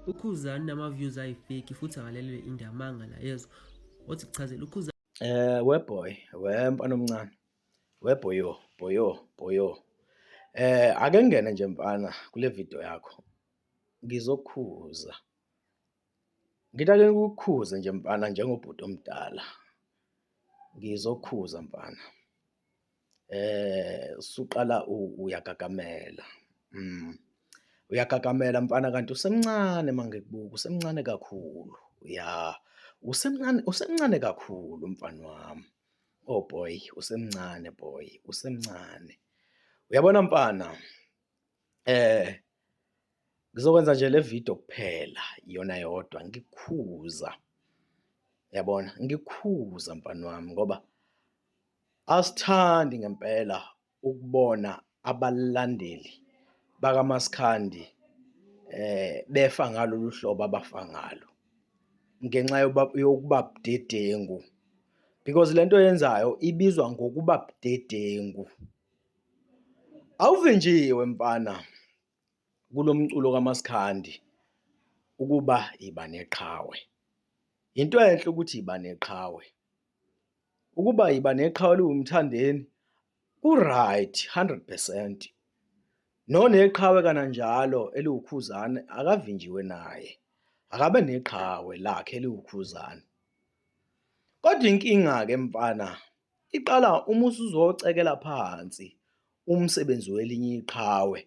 ukhuzani nama views ayi fake futhi akalelwe indamanga la yezwa othi kuchazela ukhuzani Eh weboy, wemfana omncane. Weboyo, boyo, boyo. Eh ake ngene nje mfana kule video yakho. Ngizokhuza. Ngithi ake ngikukhuze nje mfana njengobhuti omdala. Ngizokhuza mfana. Usuqala uyagagamela, uyagagamela mfana kanti usemncane uma ngikubuka usemncane kakhulu, ya usemncane, usemncane kakhulu mfani wami, oh boy usemncane boy usemncane. Uyabona mfana? Ngizokwenza nje le vidiyo kuphela iyona yodwa ngikukhuza, yabona? Ngikukhuza mfana wami ngoba asithandi ngempela ukubona abalandeli bakamaskandi befa ngalolu hlobo abafa ngalo ngenxa yokuba budedengu because le nto oyenzayo ibizwa ngokuba budedengu. Awuvinjiwe mfana kulo mculo kamaskandi ukuba yiba neqhawe. Yinto enhle ukuthi yiba neqhawe, ukuba yiba neqhawe liwuMthandeni ku-right hundred percent. Noneqhawe kananjalo eliwuKhuzani akavinjiwe naye, akabe neqhawe lakhe eliwuKhuzani. Kodwa inkinga-ke mfana Iqala uma usuzocekela phansi umsebenzi welinye iqhawe,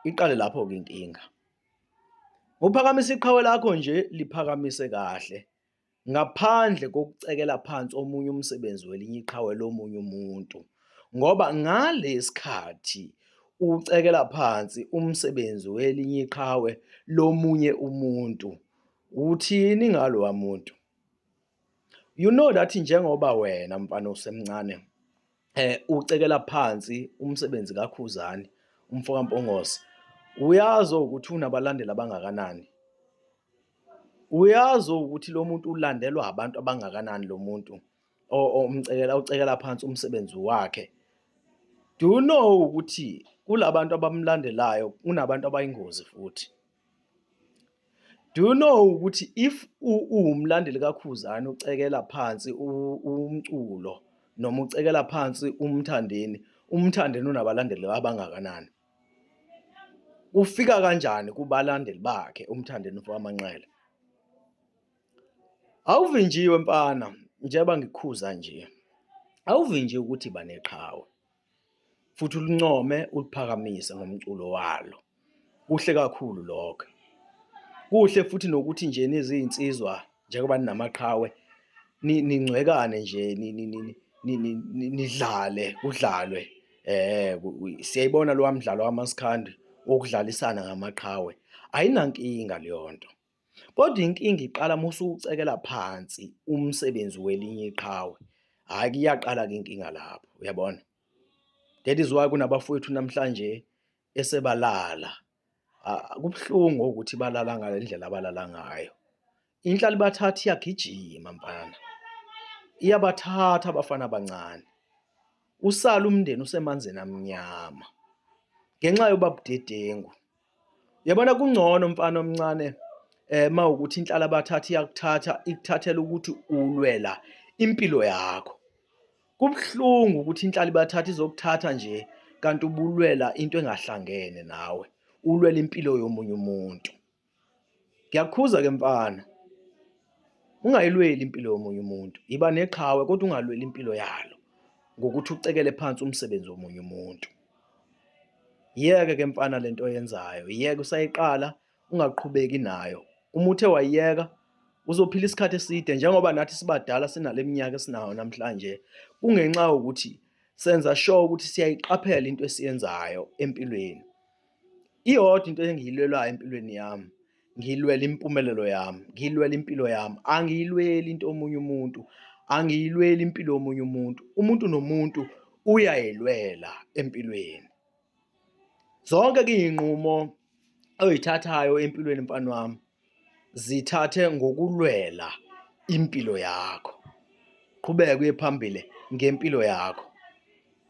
iqale lapho-ke inkinga. Ngokuphakamisa iqhawe lakho nje liphakamise kahle ngaphandle kokucekela phansi omunye umsebenzi welinye iqhawe lomunye umuntu ngoba ngalesikhathi ucekela phansi umsebenzi welinye iqhawe lomunye umuntu, uthini ngaloya muntu? You know that njengoba wena mfana usemncane eh ucekela phansi umsebenzi kaKhuzani umfo kaMpongose uyazi ukuthi unabalandeli abangakanani uyazi ukuthi lo muntu ulandelwa abantu abangakanani lo muntu omcekela ucekela phansi umsebenzi wakhe do you know ukuthi kulabantu abamlandelayo kunabantu abayingozi futhi Do you know ukuthi if uwumlandeli kaKhuzani ucekela phansi umculo noma ucekela phansi umthandeni, umthandeni unabalandeli abangakanani? Ufika kanjani kubalandeli bakhe umthandeni wamanqele? Awuvinjiwe mfana njengoba ngikukhuza nje, awuvinjiwe ukuthi baneqhawe. futhi ulincome uliphakamise ngomculo walo kuhle kakhulu lokho kuhle futhi nokuthi nje nezinsizwa njengoba ninamaqhawe ningcwekane nje nidlale kudlalwe eh siyayibona lo mdlalo wamaskandi okudlalisana ngamaqhawe ayinankinga leyo nto Kodwa inkinga iqala uma usuwucekela phansi umsebenzi welinye iqhawe, hhayi kuyaqala-ke inkinga lapho, uyabona? That is why kunabafowethu namhlanje esebalala. Kubuhlungu ukuthi balala ngale ndlela abalala ngayo. Inhlali bathatha iyagijima mfana, iyabathatha abafana abancane. Usala umndeni usemanzini amnyama ngenxa yoba budedengu. Yabona kungcono mfana omncane eh mawukuthi inhlala bathatha iyakuthatha ikuthathela ukuthi ulwela impilo yakho. Kubuhlungu ukuthi inhlala ibathatha izokuthatha nje kanti ubulwela into engahlangene nawe. Ulwela impilo yomunye umuntu. Ngiyakukhuza ke mfana. Ungayilweli impilo yomunye umuntu. Yiba neqhawe kodwa ungalweli impilo yalo ngokuthi ucekele phansi umsebenzi womunye umuntu. Yeke ke mfana lento oyenzayo. Yeke usayiqala ungaqhubeki nayo. Uma uthe wayiyeka uzophila isikhathi eside njengoba nathi sibadala sinaleminyaka esinayo namhlanje. Kungenxa yokuthi senza sure ukuthi siyayiqaphela into esiyenzayo empilweni. Iyodwa into engiyilwelayo empilweni yami, ngilwela impumelelo yami, ngilwela impilo yami, angiyilweli into omunye umuntu, angiyilweli impilo yomunye umuntu. Umuntu nomuntu uyayilwela empilweni. Zonke-ke iy'nqumo oyithathayo empilweni mfana wami, Zithathe ngokulwela impilo yakho. Qhubeka uye phambili ngempilo yakho.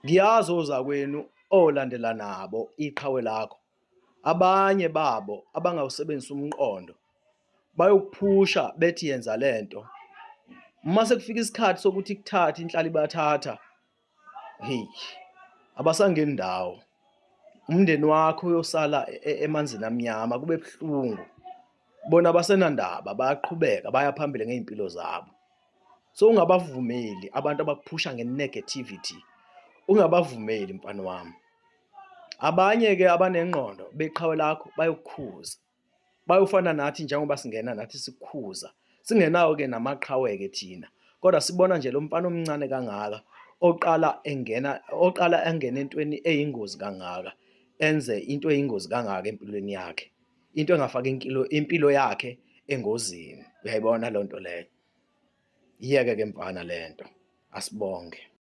Ngiyazi ozakwenu olandela nabo iqhawe lakho. Abanye babo abangawusebenzisa umqondo bayokuphusha bethi yenza lento. Uma sekufika isikhathi sokuthi kuthathe inhlali bathatha Hey, abasangeni ndawo. Umndeni wakho uyosala e- e- emanzini amnyama kube buhlungu. Bona abasenandaba bayaqhubeka baya phambili ngey'mpilo zabo. So ungabavumeli abantu abakuphusha nge-negativity. Ungabavumeli mfana wami. Abanye-ke abanengqondo beqhawe lakho bayokukhuza. bayofana nathi njengoba singena nathi sikhuza singenawo ke namaqhawe ke thina kodwa sibona nje lo mfana omncane kangaka oqala engena oqala engena entweni eyingozi kangaka enze into eyingozi kangaka empilweni yakhe into engafaka impilo impilo yakhe engozini uyayibona lento leyo iyeke ke mfana lento asibonge